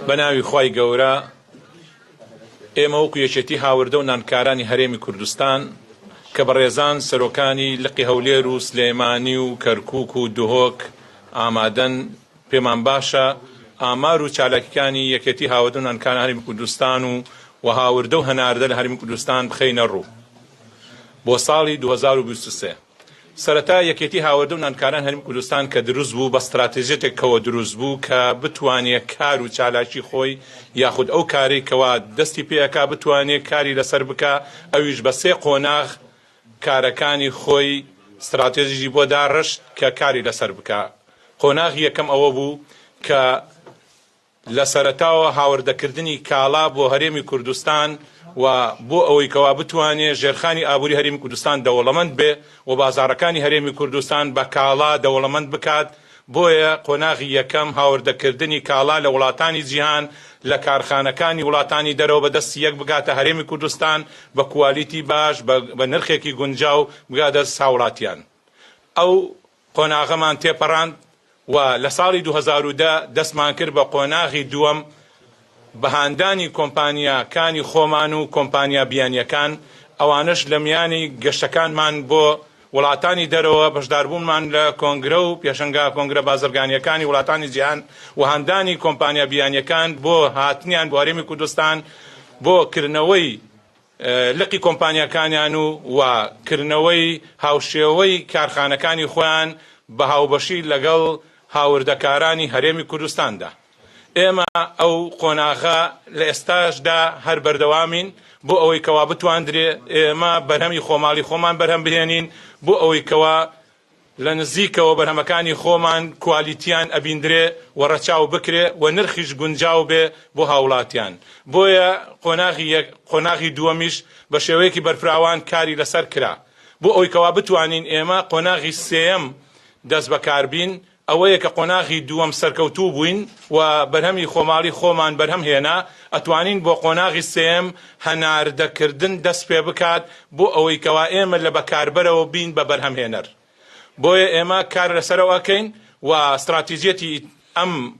بە ناوی خوای گەورە ئێمە وەکو یەکێتی هاوردە و نانکارانی هەرێمی کوردستان کە بەڕێزان سەرۆکانی لقی هەولێر و سلێمانی و کەرکک و دهۆک ئامادەن پێمان باشە ئامار و چالاکیکانی یەکێتی هاوردە و نانکاران هەرێمی کوردستان و و هاوردە و هەناردە لە هەرمی کوردستان بخەینە ڕوو بۆ ساڵی 2023 سەرەتا یەکێتی هاوردە و ناندکاران هەرێمی کوردستان کە دروست بوو بە ستراتیژێتێک کەوە دروست بوو کە بتوانێ کار و چالاکی خۆی یاخود ئەو کارەی کەوا دەستی پێ ئەکا بتوانێ کاری لەسەر بکا ئەویش بە سێ قۆناغ کارەکانی خۆی ستراتێژیی بۆ داڕشت کە کاری لەسەر بکا قۆناغی یەکەم ئەوە بوو کە لە سەرەتاوە هاوردەکردنی کاڵا بۆ هەرێمی کوردستان و بۆ ئەوەی کەوا بتوانێ ژێرخانی ئابووری هەرێمی کوردستان دەوڵەمەند بێ و بازاڕەکانی هەرێمی کوردستان بە کاڵا دەوڵەمەند بکات، بۆیە قۆناغی یەکەم هاوردەکردنی کاڵا لە وڵاتانی جیهان لە کارخانەکانی وڵاتانی دەرەوە بە دەستی یەک بگاتە هەرێمی کوردستان بە کوالیتی باش بە نرخێکی گونجاو بگا دەست هاوڵاتیان ئەو قۆناغەمان تێپەڕاند و لە ساڵی دوو هەزار و دە دەستمان کرد بە قۆناغی دووەم بە هاندانی کۆمپانیا کانی خۆمان و کۆمپانیا بیانیەکان ئەوانەش لە میانی گەشتەکانمان بۆ وڵاتانی دەرەوە بەشداربوونمان لە کۆنگرە و پێشەنگا کۆنگرە بازرگانیەکانی وڵاتانی جیهان و هاندانی کۆمپانیا بیانیەکان بۆ هاتنیان بۆ هەرێمی کوردستان بۆ کردنەوەی لقی کۆمپانیاکانیان و و کردنەوەی هاوشێوەی کارخانەکانی خۆیان بە هاوبەشی لەگەڵ هاوردەکارانی هەرێمی کوردستاندا. ئێمە ئەو قۆناغە لە ئێستاشدا هەر بەردەوامین بۆ ئەوەی کەوا بتواندرێ ئێمە بەرهەمی خۆماڵی خۆمان بەرهەم بهێنین بۆ ئەوەی کەوا لە نزیکەوە بەرهەمەکانی خۆمان کوالیتیان ئەبیندرێ و ڕەچاو بکرێ و نرخیش گونجاو بێ بۆ هاوڵاتیان. بۆیە قۆناغی یەک، قۆناغی دووەمیش بە شێوەیەکی بەرفراوان کاری لەسەر کرا. بۆ ئەوەی کەوا بتوانین ئێمە قۆناغی سێیەم دەست بەکار بین، ئەوەیە کە قۆناغی دووەم سەرکەوتوو بووین و بەرهەمی خۆماڵی خۆمان بەرهەم هێنا، ئەتوانین بۆ قۆناغی سێیەم هەناردە کردن دەست پێ بکات بۆ ئەوەی کەوا ئێمە لە بەکاربەرەوە بین بە بەرهەمهێنەر بۆیە ئێمە کار لەسەرەوە ئەکەین و ستڕاتیجیەتی ئەم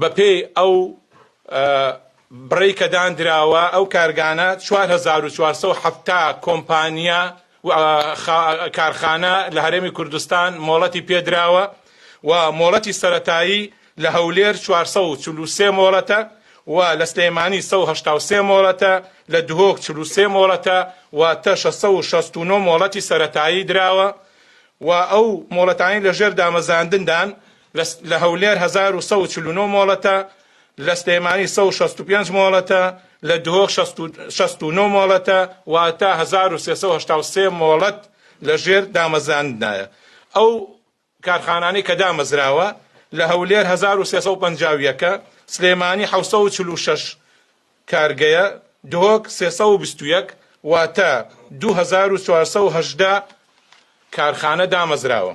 بەپێی ئەو بڕەی کە داندراوە، ئەو کارگانە چوار هەزار و چوار سەد و حەفتا کۆمپانیا و کارخانە لە هەرێمی کوردستان مۆڵەتی پێدراوە و مۆڵەتی سەرەتایی لە هەولێر چوار سەد و چل و سێ مۆڵەتە و لە سلێمانی سەد و هەشتا و سێ مۆڵەتە، لە دهۆک چل و سێ مۆڵەتە، واتە شەش سەد و شەست و نۆ مۆڵەتی سەرەتایی دراوە و ئەو مۆڵەتانەی لەژێر دامەزاندندان، لە هەولێر هەزار و سەد و چل و نۆ مۆڵەتە، لە سلێمانی سەد و شەست و پێنج مۆڵەتە، لە دهۆک شەست و نۆ مۆڵەتە، واتە هەزار و سێ سەد و هەشتا و سێ مۆڵەت لەژێر دامەزراندنایە. ئەو کارخانانەی کە دامەزراوە، لە هەولێر هەزار و سێ سەد و پەنجا و یەک، سلێمانی حەوت سەد و چل و شەش کارگەیە، دهۆک سێ سەد و بیست و یەک، واتە دوو هەزار و چوار سەد و هەژدە کارخانە دامەزراوە.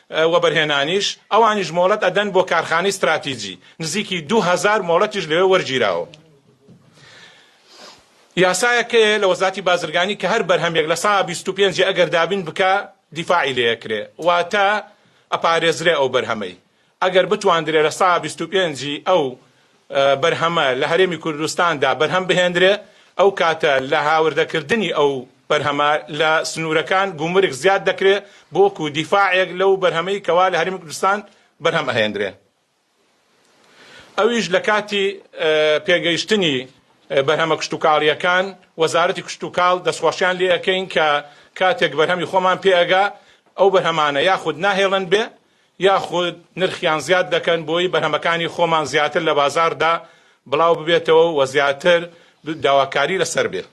وەبەرهێنانیش، ئەوانیش مۆڵەت ئەدەن بۆ کارخانەی ستراتیجی، نزیکی دوو هەزار مۆڵەتیش لەوێ وەرگیراوە. یاسایەکەیە لە وەزاتی بازرگانی کە هەر بەرهەمێک لە سەها بیست و پێنج ئەگەر دابین بکا دیفاعی لێ ئەکرێ واتە ئەپارێزرێ ئەو بەرهەمەی ئەگەر بتواندرێ لە سەها بیست و پێنج ی ئەو بەرهەمە لە هەرێمی کوردستاندا بەرهەم بهێندرێ، ئەو کاتە لە هاوردەکردنی ئەو بەرهەمە لە سنوورەکان گومرگ زیاد دەکرێ بۆ وەکوو دیفاعێک لەو بەرهەمەی کەوا لە هەرێمی کوردستان بەرهەم ئەهێندرێ ئەویش لە کاتی پێگەیشتنی بەرهەمە کشتوکاڵییەکان وەزارەتی کشتوکاڵ دەستخۆشیان لێ ئەکەین کە کاتێک بەرهەمی خۆمان پێ ئەگا ئەو بەرهەمانە یاخود ناهێڵن بێ یاخود نرخیان زیاد دەکەن بۆی بەرهەمەکانی خۆمان زیاتر لە بازاڕدا بڵاو ببێتەوە و زیاتر داواکاری لەسەر بێ.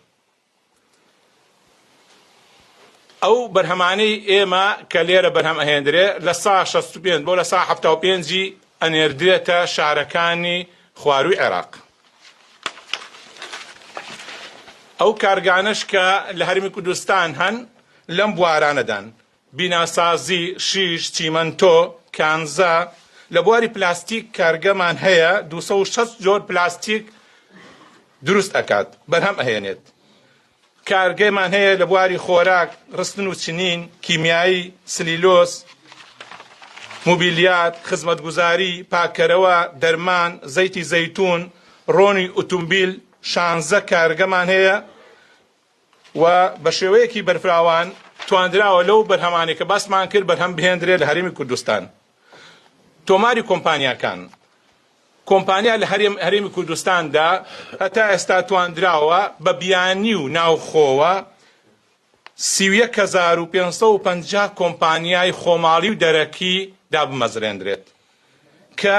ئەو بەرهەمانەی ئێمە کە لێرە بەرهەم ئەهێندرێ لە سا شەست و پێنج بۆ لە سا حەفتا و پێنجی ئەنێردرێتە شارەکانی خوارووی عێراق. ئەو کارگانەش کە لە هەرێمی کوردستان هەن لەم بوارانەدان بیناسازی، شیش، چیمەنتۆ، کانزا، لە بواری پلاستیک کارگەمان هەیە دوو سەد و شەست جۆر پلاستیک دروست ئەکات بەرهەم ئەهێنێت، کارگەمان هەیە لە بواری خۆراک، رستن و چنین، کیمیایی، سلیلۆز، موبیلیات، خزمەتگوزاری، پاککەرەوە، دەرمان، زەیتی زەیتون، رۆنی ئوتومبیل، شانزە کارگەمان هەیە و بە شێوەیەکی بەرفراوان تواندراوە لەو بەرهەمانەی کە باسمان کرد بەرهەم بهێندرێت لە هەرێمی کوردستان. تۆماری کۆمپانیاکان کۆمپانیا لە هەرێم هەرێمی کوردستاندا هەتا ئێستا تواندراوە بە بیانی و ناوخۆوە 31550 کۆمپانیای خۆماڵی و دەرەکی دابمەزرێندرێت کە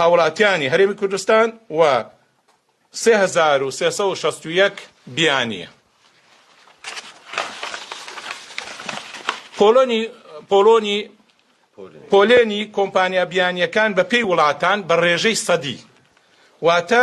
هاوڵاتیانی هەرێمی کوردستان و سێ هەزار و سێ سەد و شەست و یەک بیانی پۆلۆنی پۆلۆنی پۆلێنی کۆمپانیا بیانییەکان بەپێی وڵاتان بە ڕێژەی سەدی واتە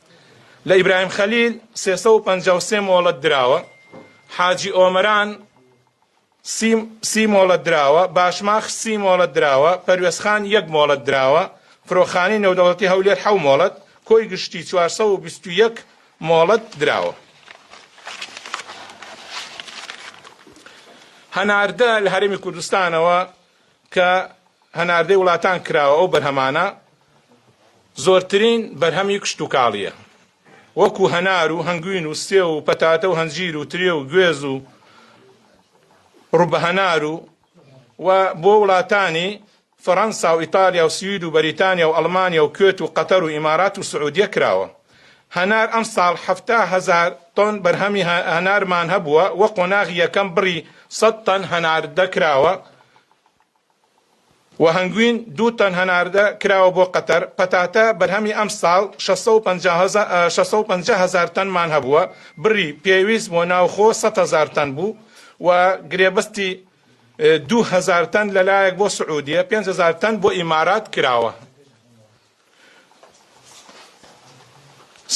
لە ئیبراهیم خەلیل سێ سەد و پەنجا و سێ مۆڵەت دراوە، حاجی ئۆمەران سی سی مۆڵەت دراوە، باشماخ سی مۆڵەت دراوە، پەروێزخان یەک مۆڵەت دراوە، فرۆخانەی نێودەوڵەتی هەولێر حەو مۆڵەت، کۆی گشتی چوار سەد و بیست و یەک مۆڵەت دراوە. هەناردە لە هەرێمی کوردستانەوە کە هەناردەی وڵاتان کراوە ئەو بەرهەمانە زۆرترین بەرهەمی کشتوکاڵییە وەکو هەنار و هەنگوین و سێو و پەتاتە و هەنجیر و ترێ و گوێز و ڕوبەهەنار و و بۆ وڵاتانی فەرەنسا و ئیتالیا و سوید و بەریتانیا و ئەڵمانیا و کوێت و قەتەر و ئیمارات و سعودیە کراوە هەنار ئەمساڵ حەفتا هەزار تۆن بەرهەمی هەنارمان هەبووە و قۆناغی یەکەم بڕی سەد تەن هەناردەکراوە و هەنگوین دوو تەن هەناردە کراوە بۆ قەتەر، پەتاتە بەرهەمی ئەمساڵ شەش سەد و پەنجا هەزار شەش سەد و پەنجا هەزار تەنمان هەبووە، بڕی پێویست بۆ ناوخۆ سەد هەزار تەن بوو و گرێبەستی دوو هەزار تەن لەلایەک بۆ سعودیە، پێنج هەزار تەن بۆ ئیمارات کراوە.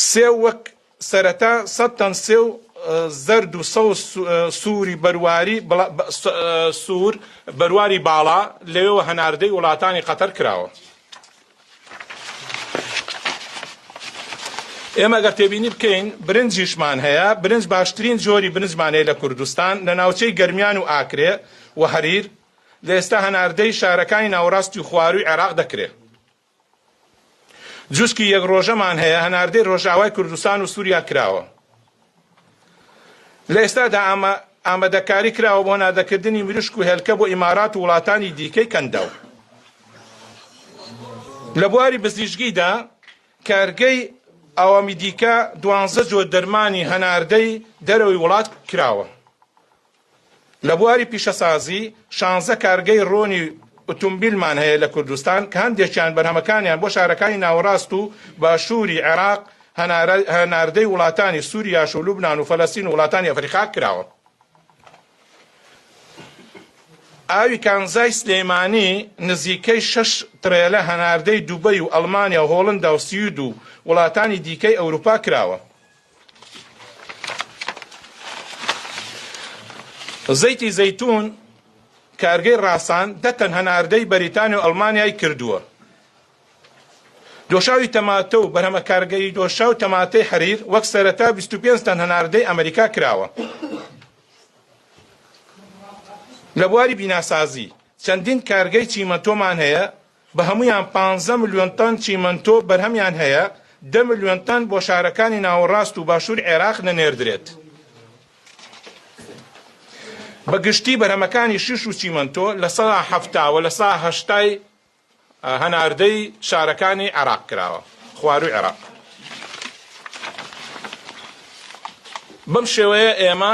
سێو وەک. سەرەتا سەد تەن سێو زەرد و سەوز سووری بەرواری سوور بەرواری باڵا لەوێوە هەناردەی وڵاتانی قەتەر کراوە. ئێمە ئەگەر تێبینی بکەین برنجیشمان هەیە، برنج باشترین جۆری برنجمان هەیە لە کوردستان لە ناوچەی گەرمیان و ئاکرێ و هەریر، لە ئێستا هەناردەی شارەکانی ناوەڕاستی و خوارووی عێراق دەکرێت. جوشکی یەک ڕۆژەمان هەیە هەناردەی ڕۆژئاوای کوردستان و سوریا کراوە. لە ئێستادا ئامە ئامەدەکاری کراوە بۆ هەناردەکردنی مریشک و هێلکە بۆ ئیمارات و وڵاتانی دیکەی کەنداو. لە بواری بزیشگیدا کارگەی ئاوامی دیکە دوانزە جۆر دەرمانی هەناردەی دەرەوەی وڵات کراوە. لە بواری پیشەسازی، شانزە کارگەی رۆنی ئوتومبیلمان هەیە لە کوردستان، کە هەندێکیان بەرهەمەکانیان بۆ شارەکانی ناوەڕاست و باشووری عێراق هەناردەی وڵاتانی سوریاش و لوبنان و فەلەستین و وڵاتانی ئەفەریقا کراوە. ئاوی کانزای سلێمانی نزیکەی شەش تڕێلە هەناردەی دوبەی و ئەڵمانیا و هۆڵندا و سوید و وڵاتانی دیکەی ئەوروپا کراوە. زەیتی زەیتون کارگەی ڕاسان دە تەن هەناردەی بەریتانیا و ئەڵمانیای کردووە دۆشاوی تەماتە و بەرهەمە کارگەی دۆشا و تەماتەی حەریر وەک سەرەتا 25 تەن هەناردەی ئەمریکا کراوە لە بواری بیناسازی چەندین کارگەی چیمەنتۆمان هەیە بە هەموویان پانزە ملیۆن تەن چیمەنتۆ بەرهەمیان هەیە، دە ملیۆن تەن بۆ شارەکانی ناوەڕاست و باشوور عێراق دەنێردرێت. بە گشتی بەرهەمەکانی شیش و چیمەنتۆ لە سەدا حەفتا و لە سەدا هەشتای هەناردەی شارەکانی عێراق کراوە، خوارووی عێراق. بەم شێوەیە ئێمە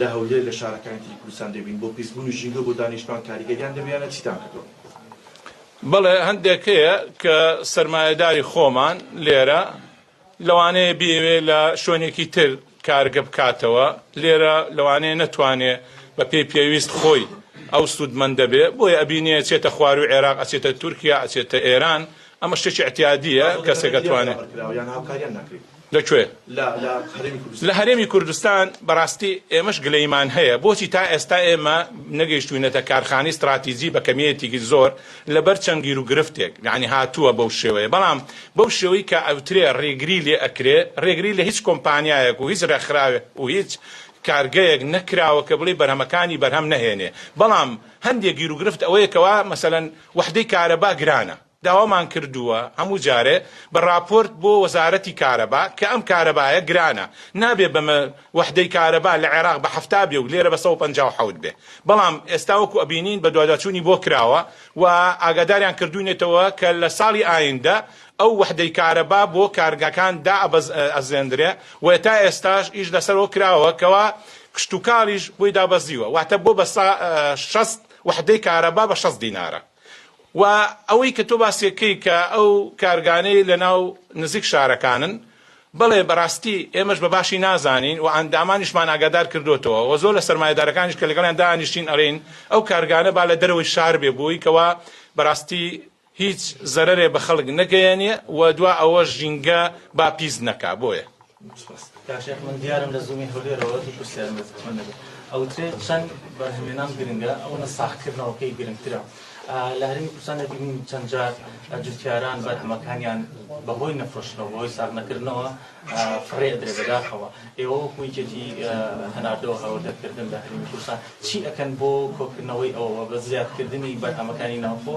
لە هەولێر لە شارەکانی تری کوردستان دەبین بۆ پیسبوونی ژینگەو بۆ دانیشتوان کاریگەریان دەبێیانە چیتان کردووە؟ بەڵێ هەندێک هەیە کە سەرمایەداری خۆمان لێرە لەوانەیە بیەوێ لە شوێنێکی تر کارگە بکاتەوە لێرە لەوانەیە نەتوانێ بە پێی پێویست خۆی ئەو سوودمەندە بێ بۆیە ئەبینێ ئەچێتە خواروی عێراق ئەچێتە تورکیا ئەچێتە ئێران ئەمە شتێکی ئیعتیادیە کەسێک ئەتوانێ. لە کوێ؟ لە هەرێمی کوردستان. بەڕاستی ئێمەش گلەیمان هەیە بۆچی تا ئێستا ئێمە نەگەیشتووینەتە کارخانەی ستڕاتیجی بە کەمییەتیکی زۆر لەبەر چەند گیروگرفتێک یانی هاتووە بەو شێوەیە بەڵام بەو شێوەی کە ئەوترێ ڕێگری لێ ئەکرێ ڕێگری لە هیچ کۆمپانیایەک و هیچ ڕێکخراوێک و هیچ کارگەیەک نەکراوە کە بڵێی بەرهەمەکانی بەرهەم نەهێنێ بەڵام هەندێ گیروگرفت ئەوەیە کەوا مەسەلەن وەحدەی کارەبا گرانە داوامان کردووە هەموو جارێ بە ڕاپۆرت بۆ وەزارەتی کارەبا کە ئەم کارەبایە گرانە نابێ بە مە وەحدەی کارەبا لە عێراق بە حەفتا بێ و لێرە بە سەد و پەنجا و حەوت بێ بەڵام ئێستا وەکو ئەبینین بەدواداچوونی بۆ کراوە و ئاگاداریان کردووینەتەوە کە لە ساڵی ئایندە ئەو وەحدەی کارەبا بۆ کارگەکان دائەبەزێندرێ و تا ئێستاش ئیش لەسەرەوە کراوە کەوا کشتوکاڵیش بۆی دابەزیوە واتە بۆ بە سە شەست وەحدەی کارەبا بە شەست دینارە. وە ئەوەی کە تۆ باسی دەکەی کە ئەو کارگانەی لە ناو نزیک شارەکانن بەڵێ بەڕاستی ئێمەش بە باشی نازانین وە ئەندامانیشمان ئاگادار کردۆتەوە وە زۆر لە سەرمایەدارەکانیش کە لەگەڵیان دانیشتین ئەڵێین ئەو کارگانە با لە دەرەوەی شار بێ بۆی کەوا بەڕاستی هیچ زەرەرێ بە خەڵک نەگەیەنێ وە دوا ئەوەش ژینگە با پیس نەکا بۆیە کاشێخ من دیارم لە زوومی هەولێرەوە دوو پرسیارم لە زمان دەبێت ئەوترێت چەند بەرهەمێنان گرنگە ئەو نە ساخکردنەوەکەی گرنگترە لە هەرمی کوردستان دەبینین چەند جار جوتیاران بەرهەمەکانیان بەهۆی نەفرۆشتنەوە بەهۆی ساغ نەکردنەوە فڕێ درێ بەداخەوە ئێوە کویکێتی هەناردەوە هەوردەکردن لە هەرمی کوردستان چی ئەکەن بۆ کۆکردنەوەی ئەوە بە زیادکردنی بەرهەمەکانی ناوخۆ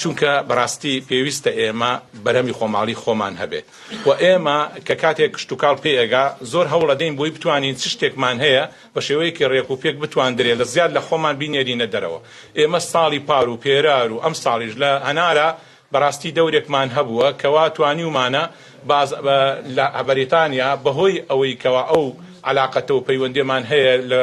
چونکە بەراستی پێویستە ئێمە بەرهەمی خۆماڵی خۆمان هەبێ و ئێمە کە کاتێک کشتوکاڵ پێ ئەگا زۆر هەوڵ ئەدەین بۆی بتوانین چ شتێکمان هەیە بە شێوەیەکی رێک و پێک بتواندرێ لە زیاد لە خۆمان بینێرینە دەرەوە ئێمە ساڵی پار و پێرار و ئەمساڵیش لە هەنارە بەراستی دەورێکمان هەبووە کەوا توانیومانە باز لە بەریتانیا بەهۆی ئەوەی کەوا ئەو عەلاقەتە و پەیوەندێمان هەیە لە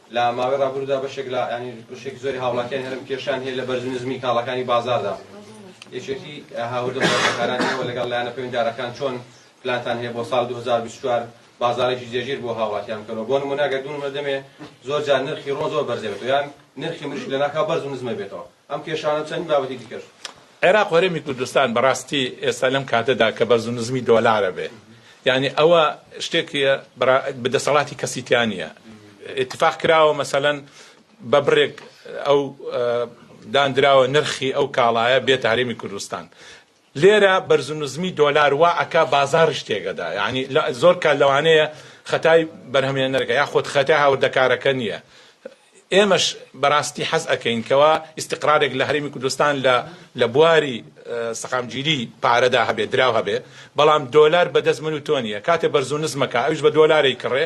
لە ماوەی ڕابرودا بەشێک لە ینی بەشێک زۆری هاوڵاتیان هەرم کێشان هەیە لە بەرز نزمی کاڵەکانی بازاردا یەکێتی هاوردە بازارکارانەوە لەگەڵ لایەنە پەیوەندارەکان چۆن پلانتان هەیە بۆ ساڵ 2024 بازارێکی جێگیر بۆ هاوڵاتیان بکەنەوە بۆ نمونە گەردون مردمێ زۆر جار نرخی ڕۆ زۆر بەرزێتەوە یان نرخی مریش لە ناکاو بەرز و نزمە بێتەوە ئەم کێشانە و چەندین بابەتی دیکەش. عێراق و هەرێمی کوردستان بەڕاستی ئێستا لەم کاتەدا کە بەرز و نزمی دۆلارە بێ یانی ئەوە شتێکیە بەڕا دەسەڵاتی کەسی تیا نیە ئیتفاق کراوە مەسەلەن بە بڕێک ئەو داندراوە نرخی ئەو کاڵایە بێتە هەرێمی کوردستان لێرە بەرزونزمی دۆلار وا ئەکا بازاڕیش تێکئەدا یانی زۆر کات لەوانەیە خەتای بەرهەمهێنەرەکە یا خود خەتای هاوردەکارەکە نیە ئێمەش بەراستی حەز ئەکەین کەوا ئیستقرارێک لە هەرێمی کوردستان لە لە بواری سەقامگیری پارەدا هەبێ دراو هەبێ بەڵام دۆلار بەدەست من و تۆ نیە کاتێ بەرزونزمەکا ئەویش بە دۆلارێی کڕێ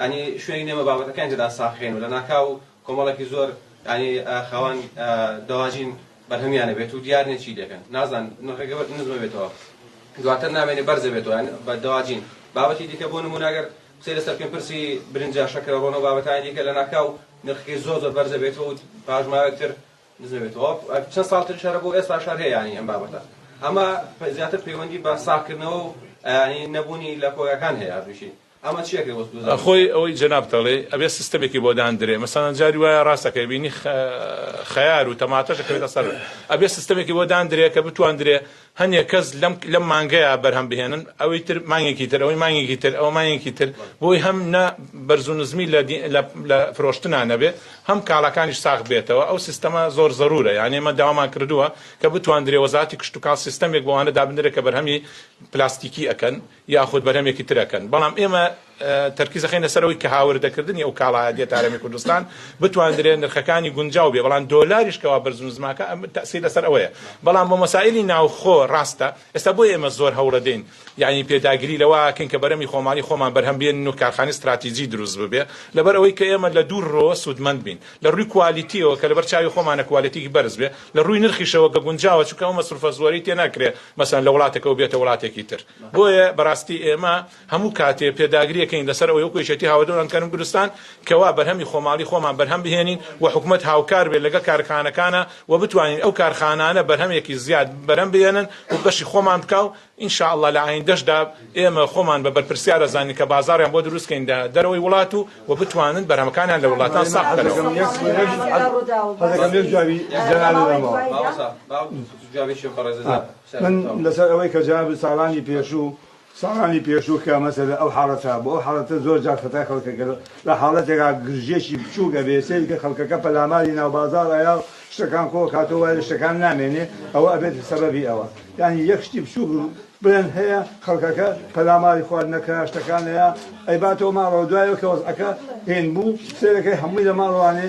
یانی شوێنی نێمە بابەتەکانی تێدا ساخێن و لەناکاو کۆمەڵێکی زۆر یانی خاوەن دەواجین بەرهەمیان ئەبێت و دیار نیە چی دەکەن نازان نرخەکە نزمە بێتەوە دواتر نامێنێ بەرزە بێتەوە یان بە دەواجین بابەتی دیکە بۆ نمونە گەر قسەی لەسەر پێم پرسی برنجە شەکرە ڕۆنە و بابەتانی دیکە لەناکاو نرخەکەی زۆر زۆر بەرزە بێتەوە و پاش ماوەیەکتر نزمە بێتەوە چەند ساڵ تریش هەرە بۆ ئێستا شار هەیە یانی ئەم بابەتە ئەمە زیاتر پەیوەندی بە ساخکردنەوە و یانی نەبوونی لە کۆگاکان هەیە هەردووشی خۆی ئەوەی جەنابت دەڵێی ئەبێ سیستەمێکی بۆ داندرێ مەسەلەن جاری وایە ڕاست دەکەی بینی خەیار و تەماتەش دەکەوێتە سەر ئەبێ سیستەمێکی بۆ داندرێ کە بتواندرێ هەنێ کەس لەم لەم مانگەیە بەرهەم بهێنن ئەوەی تر مانگێکی تر ئەوەی مانگێکی تر ئەوە مانگێکی تر بۆی هەم نە بەرز و نزمی لە فرۆشتنا نەبێ هەم کاڵاکانیش ساخ بێتەوە ئەو سیستەمە زۆر زەرورە یان ئێمە داوامان کردووە کە بتواندرێ وەزاتی کشتتوکال سیستەمێک بۆوانە دابنرێت کە بەرهەمی پلاستیکی ئەکەن یاخود بەرهەمێکی تر ئەکەن، بەڵام ئێمە تەرکیز ئەخەینە سەر ئەوەی کە هاوردەکردنی ئەو کاڵایە دێتە هەرێمی کوردستان بتواندرێ نرخەکانی گونجاو بێ، بەڵام دۆلاریش کەوا بەرز و نزماکا ئەم تەئسیر لەسەر ئەوەیە، بەڵام بۆ مەسائیلی ناوخۆ ڕاستە، ئێستا بۆیە ئێمە زۆر هەوڵەدەین یانی پێداگری لەوە ئەکەین کە بەرەمی خۆماڵی خۆمان بەرهەم بێنن و کارخانەی ستراتیجی دروست ببێ، لەبەر ئەوەی کە ئێمە لە دوو ڕۆ سوودمەند بین، لە ڕووی کوالیتیەوە کە لەبەر چاوی خۆمانە کوالێتیەکی بەرز بێ، لە ڕووی نرخیشەوە کە گونجاوە چونکە ئەو مەسروفە زۆرەی تێ ناکرێ، مەسەلەن لە وڵاتەکەوە بێتە وڵاتێکی تر بۆیە بەڕاستی ئێمە هەموو کاتێ پێداگریەکەین لەسەر ئەوەی وەکو یەکێتی هاوەدەوران کەرم کوردستان کەوا بەرهەمی خۆماڵی خۆمان بەرهەم بهێنین و حکومەت هاوکار بێت لەگەڵ کارخانەکانە و بتوانین ئەو کارخانانە بەرهەمێکی زیاد بەرهەم بهێنن و بەشی خۆمان بکا و ان شاء اللە لە ئایندەشدا ئێمە خۆمان بە بەرپرسیار دەزانین کە بازاڕیان بۆ دروست کەین لە دەرەوەی وڵات و و بتوانن بەرهەمەکانیان لە وڵاتان ساخ بکەنەوە. من لەسەر ئەوەی کە جەنابت ساڵانی پێشوو ساڵانی پێشوو کە مەسەلە ئەو حاڵەتە هەبوو، ئەو حاڵەتە زۆر جار خەتای خەڵکە کە لە حاڵەتێکا گرژییەکی بچووک ئەبێ سەیری کە خەڵکەکە پەلاماری ناو بازاڕ ئەیا و شتەکان کۆ ئەکاتەوە وای لە شتەکان نامێنێ ئەوە ئەبێتە سەبەبی ئەوە یانی یەک شتی بچووک بڵێن هەیە خەڵکەکە پەلاماری خواردنەکە شتەکان ئەیا ئەیباتەوە ماڵەوە دوای ئەوکە وەزعەکە هێن بوو سەیرەکەی هەمووی لە ماڵ وانێ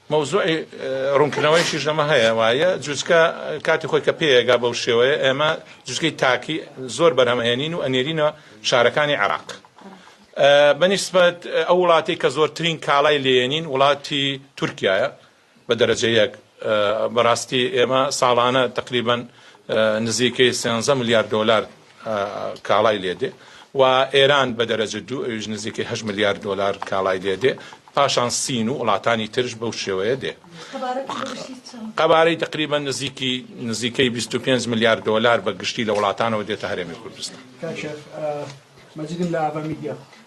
مەوزوعی ڕوونکردنەوەیشیش لەمە هەیە وایە جوچکە کاتی خۆی کە پێیەگا بەو شێوەیە ئێمە جوچکەی تاکی زۆر بەرهەمهێنین و ئەنێرینەوە شارەکانی عراق بەنیسبەت ئەو وڵاتی کە زۆرترین کاڵای لێنین وڵاتی تورکایە بە دەرەجەیەک بەڕاستی ئێمە ساڵانە تقریبان نزیکەی سێنزە ملیار دۆلار کاڵای لێ دێ و ئێران بە دەرەجە دوو ئەویش نزیکەی هەشت ملیار دۆلار کاڵای لێ دێ پاشان سین و وڵاتانی ترش بەو شێوەیە دێ قەبارەی تقریبا نزیکی نزیکەی 25 ملیار دۆلار بە گشتی لە وڵاتانەوە دێتە هەرێمی کوردستان مەجیدم لە ئاڤا میدیا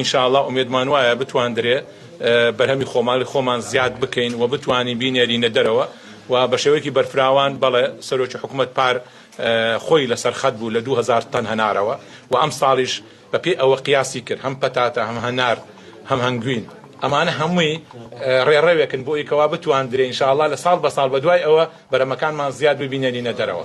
ان شاء اللە ئومێدمان وایە بتواندرێ بەرهەمی خۆماڵی خۆمان زیاد بکەین و بتوانین بینێرینە دەرەوە و بە شێوەیەکی بەرفراوان بەڵێ سەرۆکی حکومەت پار خۆی لەسەر خەت بوو لە دوو هەزار تەن هەنارەوە و ئەمساڵیش بە پێی ئەوە قیاسی کرد هەم پەتاتە هەم هەنار هەم هەنگوین ئەمانە هەمووی ڕێڕەوێکن بۆ ئەوی کەوا بتواندرێ ان شاء اللە لە ساڵ بە ساڵ بە دوای ئەوە بەرەمەکانمان زیاد ببینێرینە دەرەوە.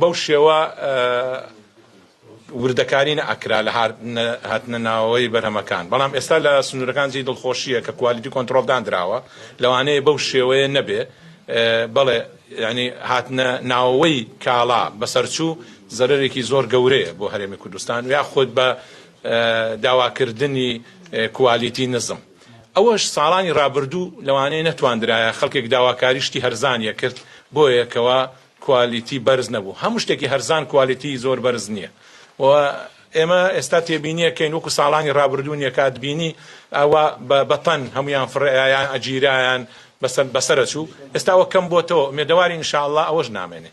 بەو شێوە وردەکاری نەئەکرا لە هاتنە ناوەوەی بەرهەمەکان، بەڵام ئێستا لە سنوورەکان جێی دڵخۆشییە کە کوالیتی کۆنتڕۆڵ داندراوە، لەوانەیە بەو شێوەیە نەبێ، بەڵێ یانی هاتنە ناوەوەی کاڵا بەسەرچوو زەرەرێکی زۆر گەورەیە بۆ هەرێمی کوردستان یاخود بە داواکردنی کوالیتی نزم. ئەوەش ساڵانی ڕابردوو لەوانەیە نەتواندرایە خەڵکێک داواکاری شتی هەرزان یەکرد بۆیە کەوا کوالیتی بەرز نەبوو هەموو شتێکی هەرزان کوالیتی زۆر بەرز نیە و ئێمە ئێستا تێبینیە کەین وەکو ساڵانی ڕابردوو نیە کاتبینی ئەوا بە بە تەن هەمویان فڕێیایان ئەگیرایان بەسەر بەسەرە چوو ئێستا وە کەم بۆتەوە مێدەواری ان شاء اللە ئەوەش نامێنێ.